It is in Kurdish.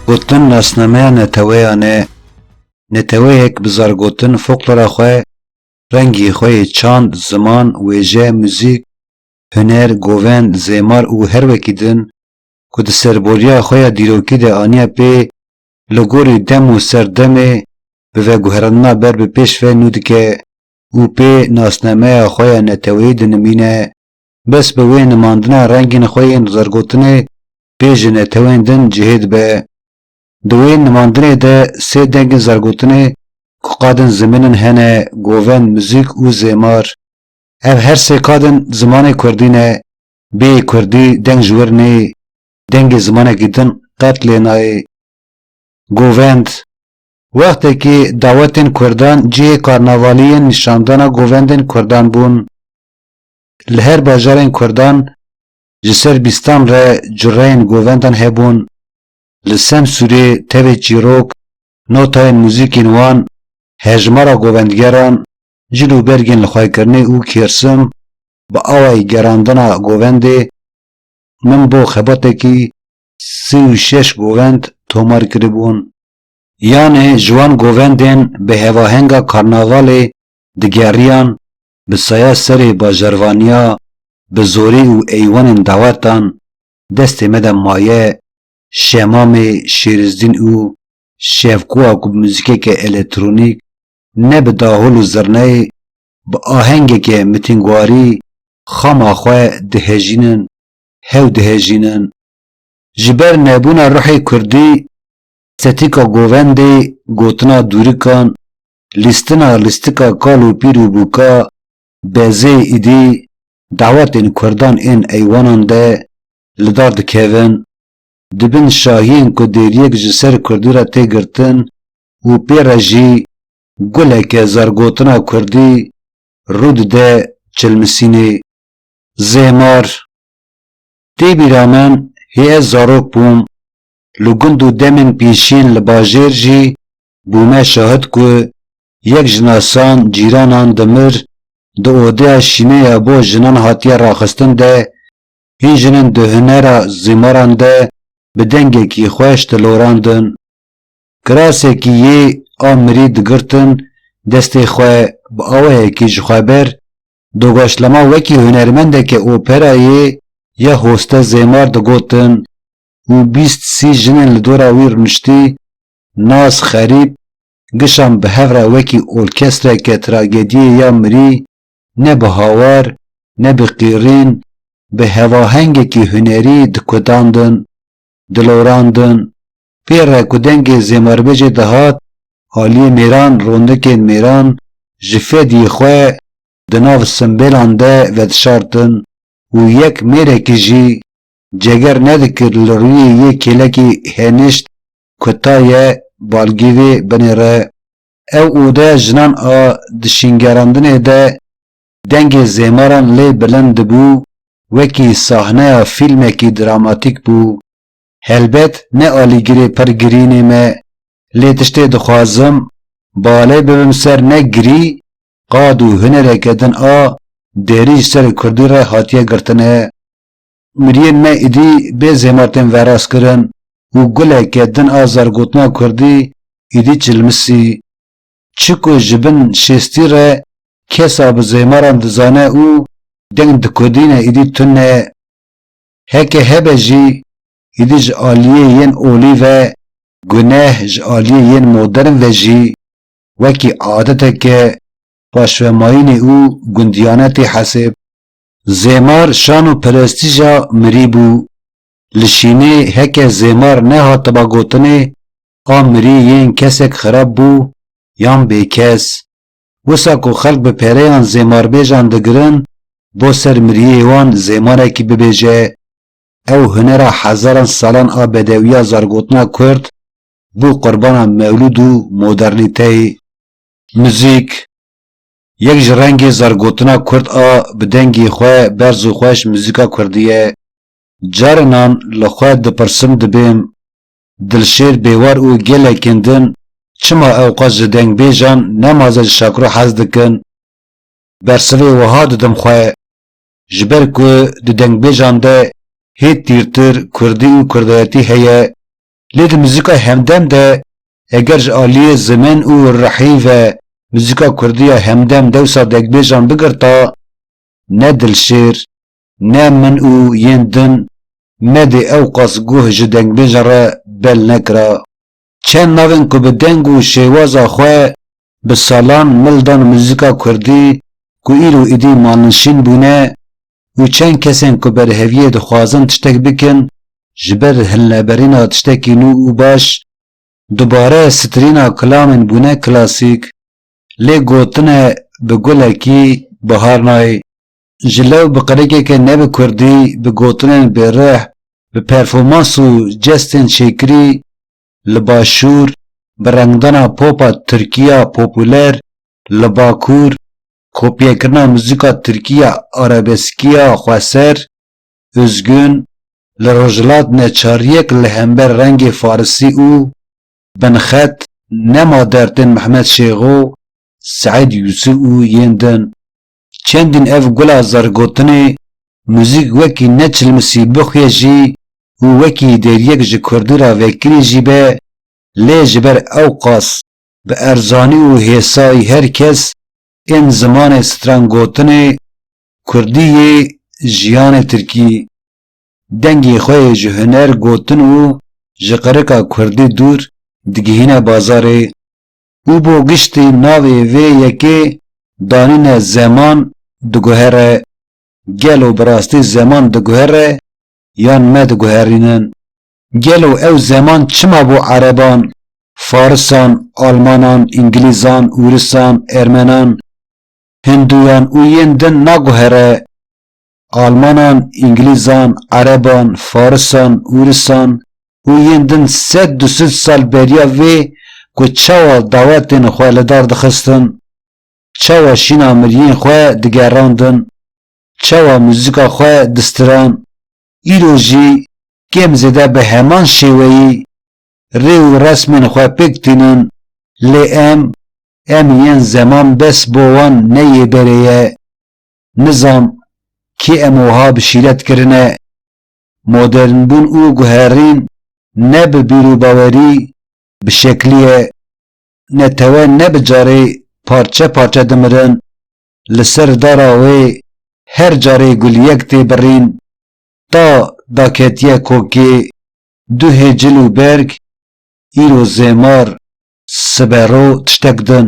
Gotin nasnameya neteweyan e. Neteweyek bi zargotin foklora xwe, rengî xwe yê çand, ziman, wêje, muzîk, huner, govend, zêmar û her wekî din ku di serboriya xwe ya dîrokî de aniye pê li gorî dem û ser demê bi veguherandina ber bi pêş ve nû dike. û pê nasnameya xwe ya neteweyî dinimîne. Bes bi wê nimandina rengên xwe yên zergotinê pê ji netewên din cihê dibe. Di wê nimandinê de sê dengên zergotinê ku qadên zimên in hene, goven, muzîk û zêmar. Ev her sê kadên zimanê kurdî ne. Bê yê kurdî deng ji wir neyê, dengê zimanekî din qet lê nayê. Govend. Wextekî dawetên Kurdan cihê karnavalî yên nîşandana govendên Kurdan bûn. Li her bajarên Kurdan ji ser bîstan re cureyên govendan hebûn. Li Semsûrê tevê çîrok, notayên muzîkên wan, hejmara govendgeran, cil û bergên lixwekirinê û kêrsim bi awayî gerandina govendê Min bo xebatekî sê û şeş govend tomar kiribûn. Yanê ji wan govendên bi hevahenga karnavalê digeriyan bi saya serê bajarvaniya bi zorî û eywanên dawetan destê me de maye Şemamê Şêrizdîn û Şevkoa ku bi muzîkeke elektronîk ne bi dahol û zirneyê bi ahengeke mitingwarî xama xwe dihejînin hew dihejînin ji ber nebûna ruhê kurdî Tetika govendê, gotina dûrikan, lîstina lîstika kal û pîr û bûka, bezê îdî, dawetên kurdan ên eywanan de li dar dikevin. Di bin şahiyên ku dêriyek ji ser kurdî re tê girtin û pê re jî guleke zargotina kurdî rû dide çilmisînê. Zêmar. Tê bîra min hê ez zarok bûm li gund û demên pîşîn li bajêr jî bûme şahid ku yek ji nasan cîranan dimir, di odeya şîneya bo jinan hatiye raxistin de hîn jinên di hunera zîmaran de bi dengekî xweş dilorandin. Kirasekî yê a mirî digirtin destê xwe bi awayekî ji xwe ber, Dogaşlama wekî hunermendeke operayê ya Hoste Zêmar digotin û bîst sî jinên li dora wî rûniştî, nas xerîb, gişan bi hev re wekî orkestreke tragediyê ya mirî, ne bi hawar, ne bi qîrîn, bi hevahengekî hunerî dikudandin, dilorandin. Pê re ku dengê Zêmarbecê dihat, aliyê mêran rondekên mêran ji fediyê xwe di nav simbêlan de vedişartin û yek mêrekî jî Ceger nedikir li rûyê yê kêlekê hênişt ku ta ye balgî vê binê re. Ew odeya jinan a di şîngerandinê de dengê zêmaran lê bilind dibû wekî sahneya fîlmekî dramatîk bû. Helbet ne alîgirê pir girînê me lê tiştê dixwazim bale bibim ser ne girî qad û hunereke din a derî ji ser kurdî re hatiye girtine. Miriyên me êdî bê zêma tên veraskirin û guleke din a zergotina kurdî êdî çilmisî. Çi ku ji bin şêstî re kes a bi zêmaran dizane û deng dikodîne êdî tune. Heke hebe jî êdî ji aliyê yên olî ve guneh ji aliyê yên modern ve jî wekî adeteke paşvemayînê û gundiyane tê hesib. Zêmar şan û perestîja mirî bû. Li şînê heke zêmar nehatiba gotinê a mirî yên kesek xerab bû yan bêkes. Wisa ku xelk bi pereyan zêmarbêjan digirin bo ser miriyê wan zêmarekî bibêje. Ew hunera hezaran salan a bedewiya zargotina kurd bû qurbana mewlûd û modernîteyê. Muzîk, Yek ji rengê zargotina kurd a bi dengê xwe berz û xweş muzîka kurdî ye. Carinan li xwe dipirsim dibêm, Dilşêr Bêwar û gelekên din çima ewqas ji dengbêjan ne maze ji şakro hez dikin? Bersivê wiha didim xwe, Ji ber ku di dengbêjan de hê tîrtir kurdî û kurdayetî heye Lê di muzîkayê hemdem de eger ji aliyê zimen û rihî ve muzîka kurdî ya hemdem dewsa degbêjan bigirta, ne Dilşêr, ne min û yên din me dê ewqas guh ji dengbêjan re bel nekira. Çend navên ku bi deng û şêwaza xwe bi salan mil dan muzîka kurdî ku îro êdî malnişîn bûne, û çend kesên ku berheviyê dixwazin tiştek bikin ji ber hilneberîna tiştekî nû û baş, dubare sitirîna kilamên bûne klasîk, lê gotine bi gulekî bihar nayê. Ji lew bi qirikeke ne bi kurdî, bi gotinên bêrih, bi performans û jestên çêkirî li başûr, bi rengdana popa tirkî ya popûler li bakur, Kopyekirina muzîka tirkî ya arabeskiya xweser, Üzgün, li Rojhilat neçariyek li hember rengê farisî û binxet Nema dertên Mehmet Şêxo, Seîd Yûsû û yên din. Çendîn ev gula zergotinê muzîk wekî ne çilmisî bixuye jî û wekî deriyek ji kurdî re vekirî jî be lê ji ber ewqas bi erzanî û hêsayî her kes ên zimanê stran gotinê kurdî yê jiyanê tirkî dengê xwe yê ji huner gotin û ji qirika kurdî dûr digihîne bazarê û bo giştî navê vê yekê danîne zeman diguhere. Gelo bi rastî zeman diguhere yan me diguherînin? Gelo ew zeman çima bo ereban, farisan, almanan, îngilîzan, wirisan, ermenan, hinduyan û yên din naguhere? Almanan, îngilîzan, ereban, farisan, wirisan û yên din sed du sed sal beriya vê ku çawa dawetên xwe li dar dixistin, çawa şîna miriyên xwe digerandin, çawa muzîka xwe distiran, îro jî kêm zêde bi heman şêweyî rê û resmên xwe pêk tînin lê em, em yên zeman bes bo wan ne yê berê ye. Nizam kê em wiha bi şîret kirine. Modernbûn û guherîn ne bi bîrûbawerî, bi şeklî ye. Netewe ne bi carê parçe parçe dimirin, li ser dara wê her carê guliyek tê birîn, ta daketiye kokê, duhê cil û berg, îro zêmar, sibe ro tiştek din.